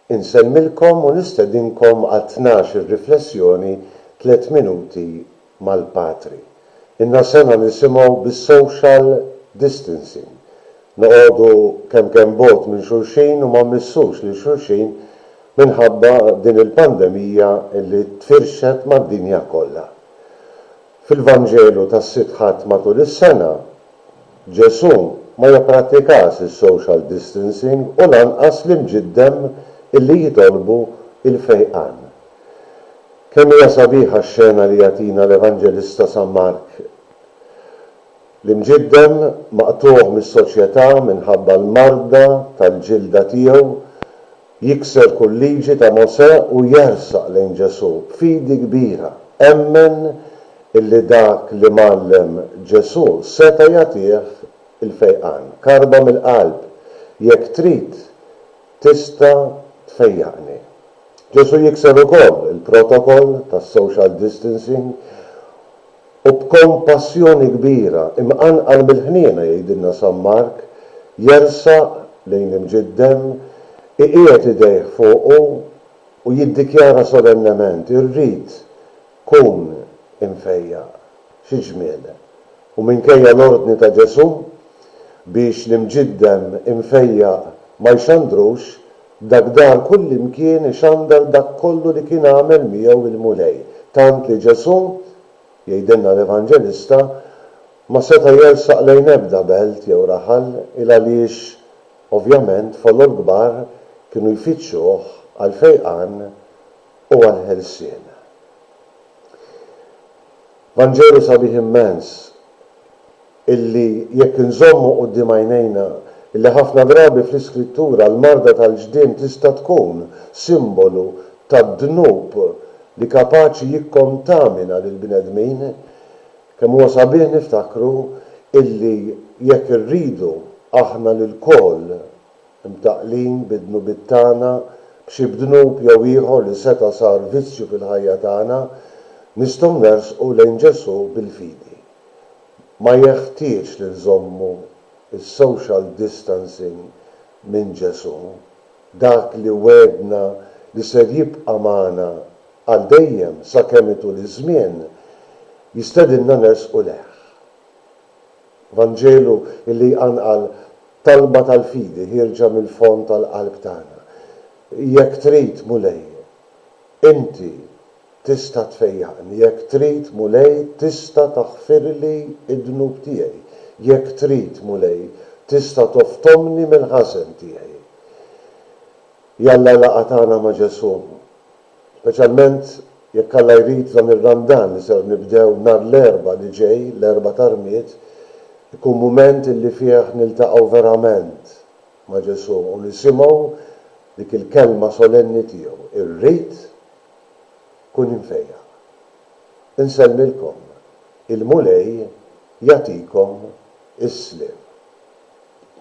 Insellmilkom u nistedinkom għat-tnax ir-riflessjoni Tliet Minuti mal-Patri. Ilna sena nisimgħu bis-social distancing, noqogħdu kemm kemm bogħod minn xulxin u ma mmissux lil xulxin minħabba din il-pandemija li tfirxet mad-dinja kollha. Fil-Vanġelu tas-Sitt Ħadd matul is-sena, Ġesù ma jipprattikax is-social distancing u lanqas l-imġiddem illi jitolbu l-fejqan. Kemm hija sabiħa x-xena li jagħtina l-Evanġelista San Mark! L-imġiddem, maqtugħ mis-soċjetà minħabba l-marda tal-ġilda tiegħu, Jikser kull liġi ta' Mosè u jersaq lejn Ġesù b'fidi kbira. Emmen illi dak li mgħallem Ġesù seta' jagħtih il-fejqan. Karba mill-qalb, jekk trid, tista' tfejjaqni. Ġesù jikser ukoll il-protokoll tas-social distancing U b'kompassjoni kbira, imqanqal mill-ħniena, jgħidilna San Mark, jersaq lejn l-imġiddem, iqiegħed idejh fuqu u jiddikjara solennement, Irrid, kun imfejjaq. Xi ġmiel! U minkejja l-ordni ta' Ġesù biex l-imġiddem imfejjaq ma jxandrux, Dak dar kullimkien ixandar dak kollu li kien għamel miegħu il-Mulej, tant li Ġesù, jgħidilna l-Evanġelista, ma seta' jersaq lejn ebda belt jew raħal, ilgħaliex, ovvjament, folol kbar kienu jfittxuh għall-fejqan u għall-ħelsien. Vanġelu sabiħ immens! illi jekk inżommu quddiem għajnejna illi ħafna drabi fl-Iskrittura l-marda tal-ġdien tista' tkun simbolu tad-dnub li kapaċi jikkontamina lill-bnedmin, kemm huwa sabiħ niftakru illi jekk irridu aħna lilkoll imtaqqlin bid-dnubiet tagħna, b'xi b'dnub jew ieħor li seta' sar vizzju fil-ħajja tagħna, nistgħu nersqu lejn Ġesù bil-fidi. ma jeħtieġx li nżommu s-social distancing minn Ġesù, dak li wegħedna li ser jibqa' magħna għal dejjem sakemm itul iż-żmien, jistedinna nersqu lejh. Vanġelu li jqanqal talba tal-fidi ħierġa mill-fond tal-qalb tagħna, Jekk trid, Mulej, inti Tista' tfejjaqni jekk trid, Mulej, tista' taħfirli d-dnub tiegħi. Jekk trid, Mulej, tista' toftomni mill-ħażen tiegħi. Jalla l-laqgħa tagħna ma' Ġesù, speċjalment jekk Alla jrid f'dan ir-Randan li ser nibdew nhar l-Erbgħa li ġej, l-Erbgħa ta' Rmied, ikun mument illi fih niltaqgħu verament ma' Ġesù u nisimgħu dik il-kelma solenni tiegħu, Irrid Kun imfejjaq. Insellmilkom. Il-Mulej jagħtikom is-sliem.